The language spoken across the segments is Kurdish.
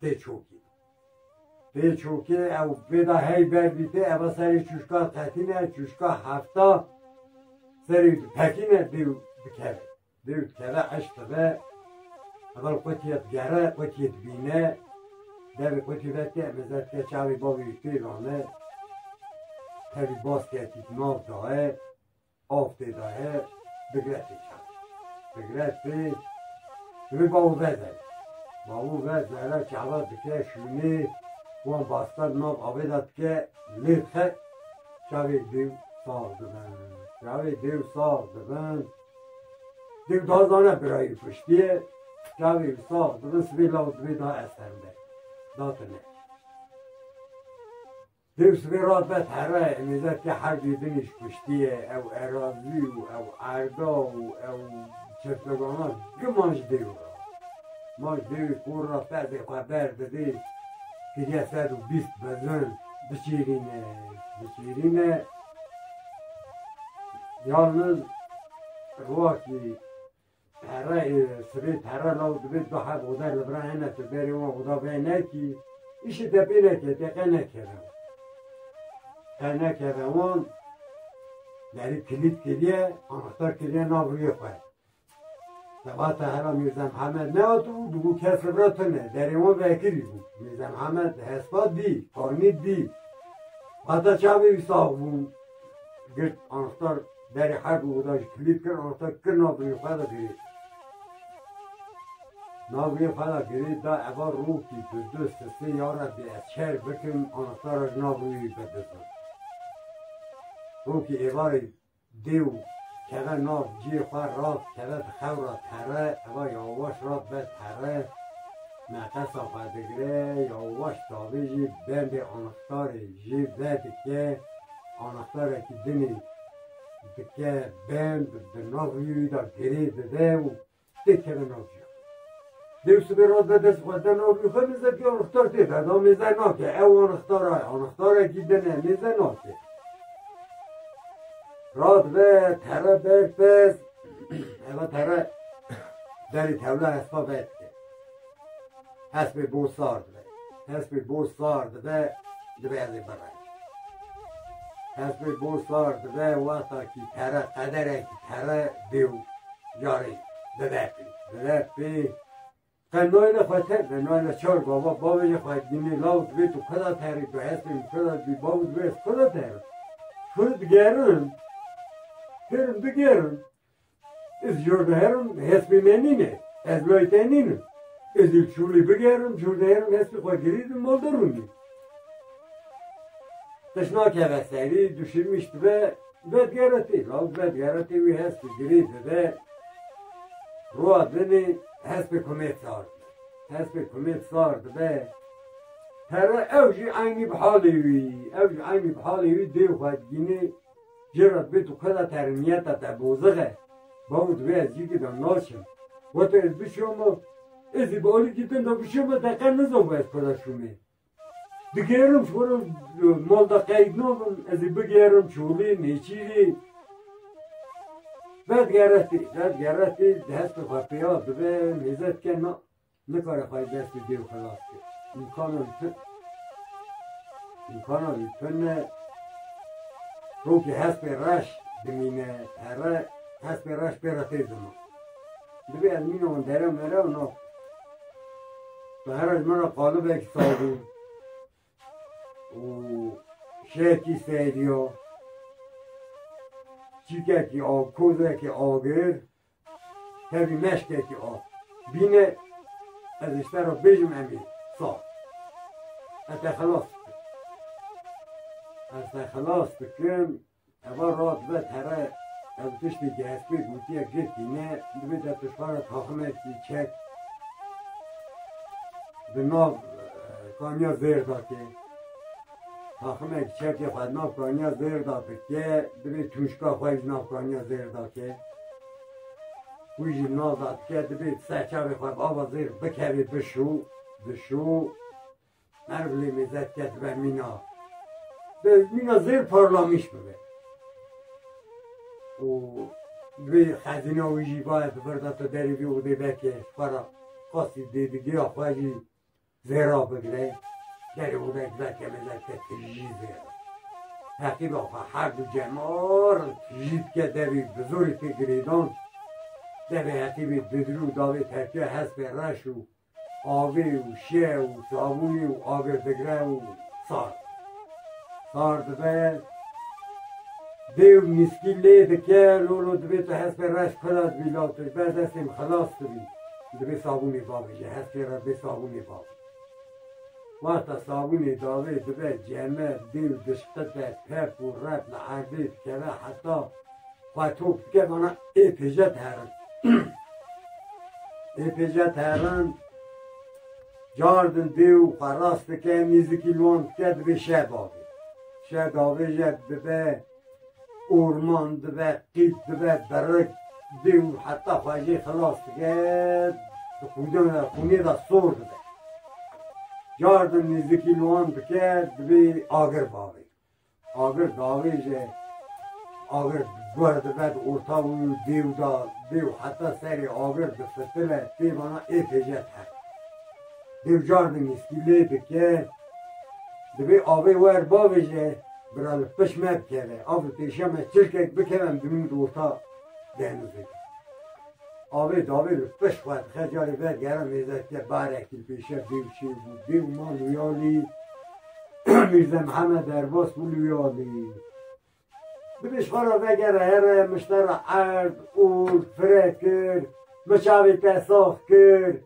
Tê çokî. Tê çokê ew vêda hey ber bîtê eva serê çuşka tetîne çuşka hefta serê pekîne dêw dikeve. Dêw dikeve eşk dibe evel qutiyê digere qutiyê dibîne devê qutî veke mezet ke çavê bavê wî pê rane tevî bas ketî nav daye Av tê daye bigre tê çan. Bigre tê wê bavû ve de. Bavû ve zehra çehra dike şûnê wan bastar nav avê de dike lê xe çavê dêw sax dibin. Çavê dêw sax dibin dêw da zane birayî kuştiye çavê wî sax dibin sibê law dibê da eserinde. Datine. Dewsa vê rafet here nêzerkê herdê binê ji piştî ye, ew erazî û ew erda û ew çesoganan gi man ji dêw re. Man ji dêwê kor re fedê xwe berdidê, kiriye sed û bîst mezin diçêrîne, diçêrîne. Yalniz rokî. Pere sibê pere law dibê du heb oda li vir a hene tu berê wan oda vê nekî îşê te pê neke te qe nekeve qe nekeve wan derî kilît kiriye anahtar kiriye nav rûyê xwe Sebata hera Mirza Mihemed nehatibû dibû kes li vir tune derê wan vekirî bû Mirza Mihemed hespa dî fanî dî hata çavê wî sax bûn girt anahtar Derê hek û da ji kilîp kir rota kir navbirîn xwe da girê. Navbirîn xwe da girê da eva rokî bi du sisê ya Rebbî ez çer bikim anahtara ji nav rûyê wî bidizo. Rokî êvarê dê û keve nav ciyê xwe rat keve di xewra terre eva yawaş rat ber terre nefesa xwe digire yawaş davêjî bendê anahtarê jê vedike Anahtarekî dinê dike bend di nav rûyê de girê dide û tê keve nav rûya. Dêw sibê re de dest xweste nav rûyê xwe mêzekî anahtar tê de da mêze nake. Ew anahtara ye. Anahtarekî dine mêze nake. Radibe tere ber pez eva tere derê tevla hespa vedike. Hespê bo sar dibe. Hespê bo sar dibe, dibe ez ê birim. Hespê bo sar dibe wexta kî pere qederekî pere bê û carê bibe pê. Bibe pê Te nayla xwe te be, nayla çar baba bavê jê xwe dinê law dibê tu kuda terî tu hespê min kuda dibî bav dibê ez kuda terim. Kur digerim, kirim bigerim. Ez cor diherim, hespê me nîn e, ez lay te nîn im. Ez ê çolê bigerim, cor diherim, hespê xwe girîdim, malde rûndî. Qij nakeve serî, duşimîş dibe, vedigere tê, lawik vedigere tê wî hespê girê dibe, rowa dinê hespê komê sar dibe. Hespê komê sar dibe, pere ew jî eynî bi halê wî, ew jî eynî bi halê wî dê xwe digînê, Jê re dibê tu xweda te riniyeta te bozixe, bavê dibê ez jî gidan naçim. Goto ez bişoma, ez ê bi alikî din de bişoma te qet nizanibû ez xweda şomê. Digêrim ji xwe re mal de qeyd nabim, ez ê bigêrim Çolê, Nêçîrê. Vedigere tê, vedigere tê, di hestê xwe pêya dibe, mêze dike na. Nikare xwe li destê dêw xilas bike. Îmkana wî pir îmkana wî pir ne. Tokî hespê reş dimîne here, hespê reş pê re tê ziman. Divê ez mîna wan dere mere û nas bi. Here ji min re qalibek sabûn û şekî seriya, çîkekî a kozekî agir Tevî meşkekî a bîne ez ji te re bijim emî sa. Ez te xilas bikim. Ez te xilas bikim eva radibe tere ev tiştê ki ez pê gotiye girtîne divê te tiştana taxime kî çek bi nav kaniya zêr dakê. Taximek çekê xwe di nav kaniya zêr de bike, divê tûşka xwe ji nav kaniya zêr de ke. Wî jî nav de dike, divê di ser çavê xwe bi ava zêr bikevê bişû, dişû. Her bi lê mêze dike dibe mîna. Bi mîna zêr parlamîş bibe. û Divê xezîna wî jî baye di vir de tu derê vê odê veke xwe re. Qasî dêdigeya xwe jî Vê ra bigre ger wek veke me veke tijî vê ra. Heqî ba xwe her du cemar tijî dike devî bi zorî tê girêdan. Devê heqî bê didru û davê terkiya hespê reş û avê û şe û sabûnê û avê digre û sar. Sar dibe dêw nîskî lê dike lolo dibê tu hespê reş kura dibî law tu ji ber destê min xilas dibî. Divê sabûnê bavê li her tê re bê sabûnê bavê. Wexta sabûnê davê dibe ceme, dê û dişqite, pep û rep li erdê dikeve heta xwe tok dike vana ê pêje diherin. ê pêje diherin cardin dê û xwe rast dike nêzikî wan dike divê şeh bavê. Şeh davê jî dibe Orman dibe qîz dibe berik dê û heta xwe jê xilas dike di xûdana xûnê de sor dibe. Car din nêzikî li wan dike dibê agir bavê. Agir davê jî agir guer dibe di orta û dêw de dê û heta serê agir difitile pêvana ê fêjet her. Dêw cardin û stîlê bike, divê avê wer bavêje, bira li piş me bikeve. A bi pêşiya me çilkek bikeve em dimîn di ota denizê de. Avê davê li piş xwe dixe carê ver gera mêze dike barekî li pêşiya dêw çêbû. Dêw ma Luyalî Mîrze Mihemed Erbas bû Luyalî. Bibî şora vegere here mişte re erd, ûrd, fire kir, miçavê te sax kir,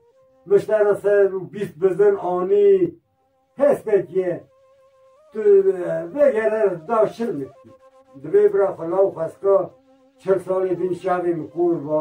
mişte re ser û bîst bizin anî. Hestek ye. Tu vegere re da şil dikî. Divê bira xwe law xwestka çil salê din şavê min kor ba.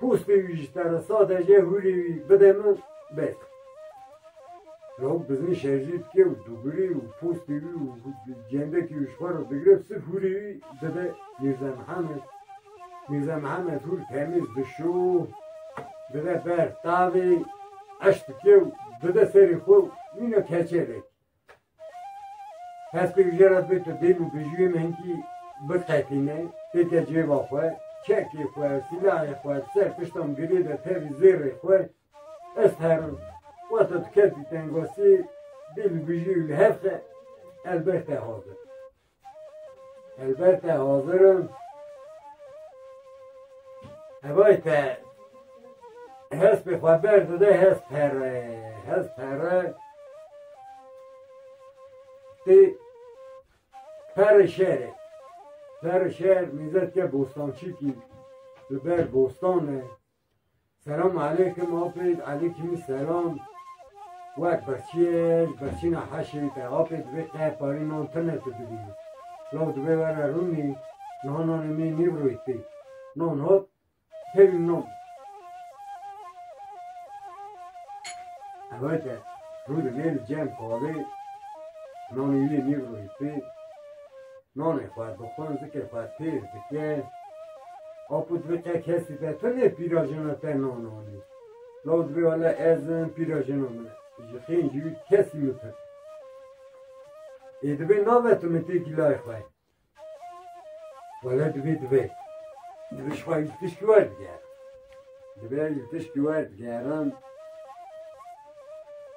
Postê wî ji te re sade ye, hûrê wî bide min, bes. Lawik bi zin şerjî dike û dûgirê û postê wî û cendekê wî ji xwe re digire û sirf hûrê wî dide Mîrza Mihemed. Mîrza Mihemed hûr temîz dişo, dide ber tavê, eş dike û dide serê xwe û mîna keçe vekî. Hespê jê re bê tu dêl û bijûyê min hînkî biqepîne, têke cêba xwe, çekê xwe, sîlahê xwe li ser pişta min girê de tevî zêrê xwe ez herim. Wata tu kes dî tengasiyê dêl û bijûyê li hev xe, ez bes te hazir. Helber te hazir im. Hevay te hespê xwe berdide hes pere, hes pere. Ti pere şerê. Pere şer mizet ke bostançîkî li ber bostan e. Selam aleykim Apêt Alêkîmî selam Wek birçîyêj birçîna heşê wî te Apê divê qey parî nan tine tu dibînî Law divê were rûnî Niha nanê mî nîvroyî tî Nan hat pêwî nan Ewe te rû di nê li cem kalê Nanê wî nîvroyî tî Nanê xwe dixwin, zikê xwe têz dikin. Ew ku divê te kesî be, tu nê pîra jina te nan anî. Law divê wele ez im, pîra jina min e. Ji xêr ji wî kesî min pirse. Ê divê nabe tu min têkî lay xwe. Wele divê divê. Divê ji xwe tişkî werdigerim. Divê ji tişkî werdigerim.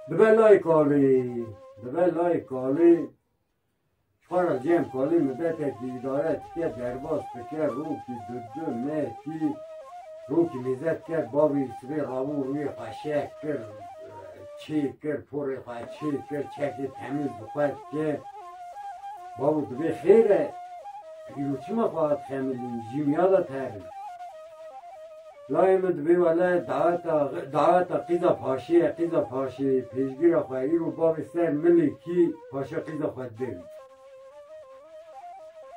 Dibe lay kalê, dibe lay kalê. Çixara cem kalê min betekî îdare dike derbas dike rokî dudu me kî rokî mêze dike bavê sibê rabû rûyê xwe şeh kir çê kir porê xwe çê kir çekê temîz bi xwe dike bavû dibê xêr e îro çima xwe hat xemilîn jî miya de terin. Layê min divê wele daata daata qîza paşê ye, qîza paşê pêşgîra xwe ye. Îro bavê ser milê kî paşa qîza xwe dide wî.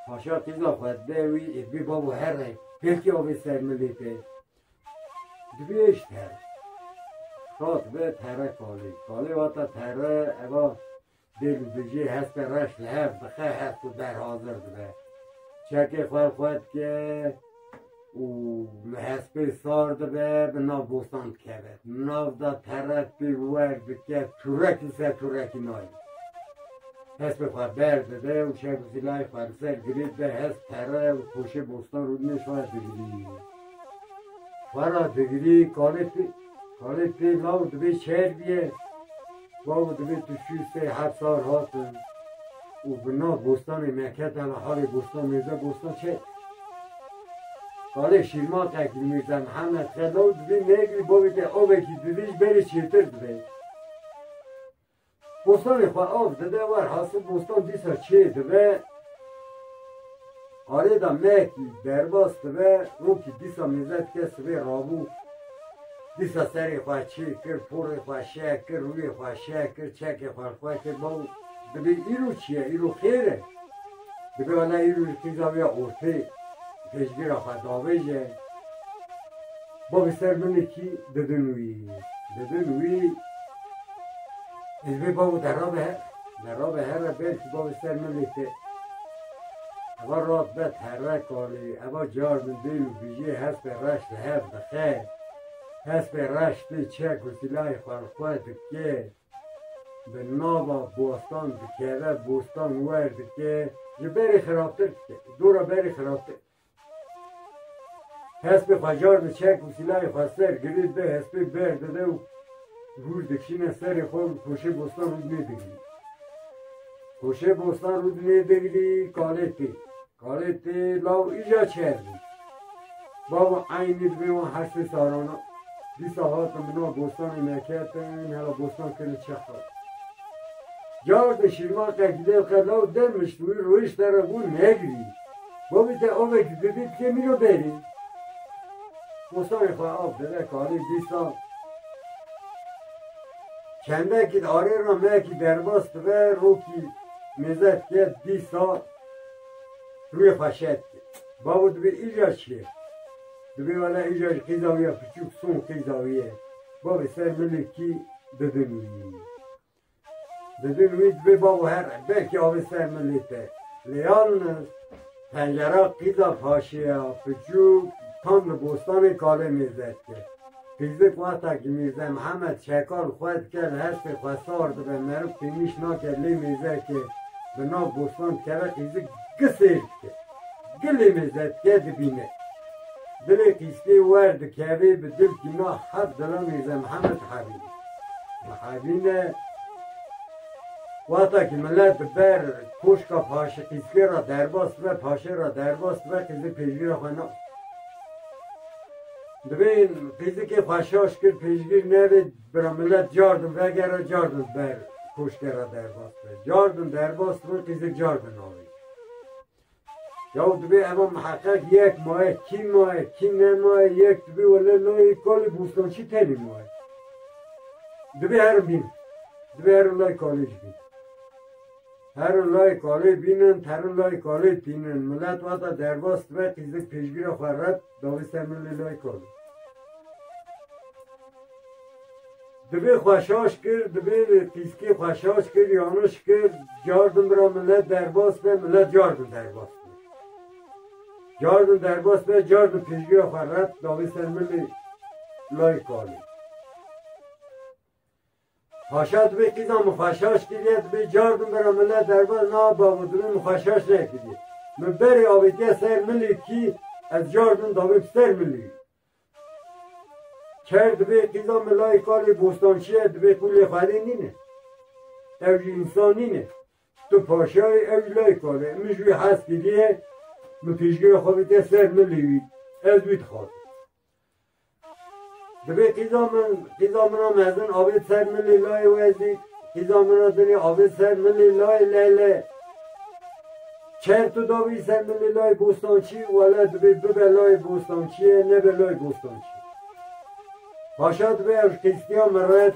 Paşa qîza xwe dide wî ê bê bavo here. Belkî avê ser milê te. Divê êş ter. Rat be tere kalê. Kalê vata tere eva Dil dijî hestê reş li hev dixe, hest û der hazir dibe. Çekê xwe xwe dike û li hespê sar dibe, bi nav bostan dikeve. Nav da teret pî wer dike, turekî ser turekî nayê. Hespê xwe ber dide û şev û zîlayê xwe li ser girê dide, hest tere û poşê bostan rûdinê şoya digirî. Xwe ra digirî kalê Halê pê law divê şer biye. Bavo divê tu şû sey heft sar hatin û bi nav bostanê me ket hela halê bostan mêrde bostan çek. Halê şîrmatê ki Mîrza Mihemed xe law divê nêgirî bavê te avekî didij berê çêtir divê. Bostanê xwe av dide wer hasib bostan dîsa çê dibe arêda mehekî derbas dibe rokî dîsa mîze dike sibê rabû dîsa serê xwe çê kir porê xwe şeh kir rûyê xwe şeh kir çekê xwe li xwe kir baw dibê îro çi ye îro xêr e. Dika ne îro ji tîza wî ya ortê pêşgira xwe davêje. Bo bi ser min e kî didin wî, didin wî. Ez bê bavo derabe her, derabe here belkî bo bi ser min e te. Eva rat bet here kalê, eva car min dê û bijê hespê reş li hev dixe. Hespê reş tê çek û sîlayê xwerxwe dike. Bi nava bostan dikeve, bostan wer dike, ji berê xirabtir dike, dora berê xirabtir. Hespê xwe carde çek û sîlayê xwe ser, girê bi hespê ber dide û hûr dikişîne serê xwe û koşê bostan rûdinê digirî. Koşê bostan rûdinê digirî, kalê tê. Karê tê law îja çer bû. Bava eynî di vê wan heştê salan a dîsa hatin bi nav bostanê me ketin hela bostan kirin çexxer. Car de şîrman qe gidê qe law demişt wî royîş te re gûn negirî. Bavî te avê ki didî ti kê mîno berî. Bostanê xwe av dide karê dîsa çendekî arê ra mekî derbas dibe rokî mêze dike dîsa Tu yê xwe şeh dikî. Bavo dibê îcar çi ye? Dibê wele îcar ji qîza wî ya piçûk son qîza wî ye. Bavê ser milûkî didin wî. Didin wî dibê bavo her belkî avê ser milê te. Lê yalniz pencera qîza paşê ya piçûk tam li bostanê kalê mêze dike. Pirsgirêk wexta ki Mîrze Mihemed Şekal xwe dike li hespê xwe sar dibe meriv têmîş nake lê mêze ki bi nav bostan dikeve qîzik gi sêr dike. Gi lê mêze dike dibîne. Dilê qîzkê wer dikevê bi dil tîma heft dila Mîrze Mihemed dihevîne. Dihevîne wexta ki milet di ber koşka paşê qîzkê ra derbas dibe paşê ra derbas dibe qîzik pêşgirê xwe nake. Divê fîzikê xwe şaş kir, pêşgîr nebe, bira milet cardin vegere, cardin ber koşkera derbas be. Cardin derbas kirin, fîzik cardin avê. Yaw divê eva miheqeq yek maye, kî maye, kî nemaye, yek divê wele layê kalê bostançî tenê maye. Divê herin bîn. Divê herin layê kalê jî bîn. Herin layê kalê bînin, herin layê kalê tînin. Milet wata derbas dibe, fîzik pêşgîra xwe ret Dawîste min li lay kal. Divê xweşaş kir, divê pîskî xweşaş kir, yaniş kir, cardin bira milet derbas be, milet cardin derbas be. Cardin derbas be, cardin pêşgiya xwe ret, dawîste min li lay kalê. Xaşa divê kîza min xaşaş kiriye divê cardim bira mile derbas na babo divê min xaşaş nekiriye. Min berê avêtiye ser milî kî ez cardim dabim ser milî. Ker divê kîza min layê kalê bostançiye divê ku lê xelê nîne. Ew jî însan nîne. Tu paşayê ew jî layê kalê. Min ji wî hez kiriye min pêşgira xwe avêtiye ser milî wî. Ez wî dixazim. Divê qîza min, qîza min a mezin avê ser min lê layê we zî qîza min a dinê avê ser min lê layê Lehle. Çerto dawî ser min lê layê Bostançî, wele divê bibe layê Bostançîye nebe layê Bostançî. Paşa divê ew ji qîztiya min red.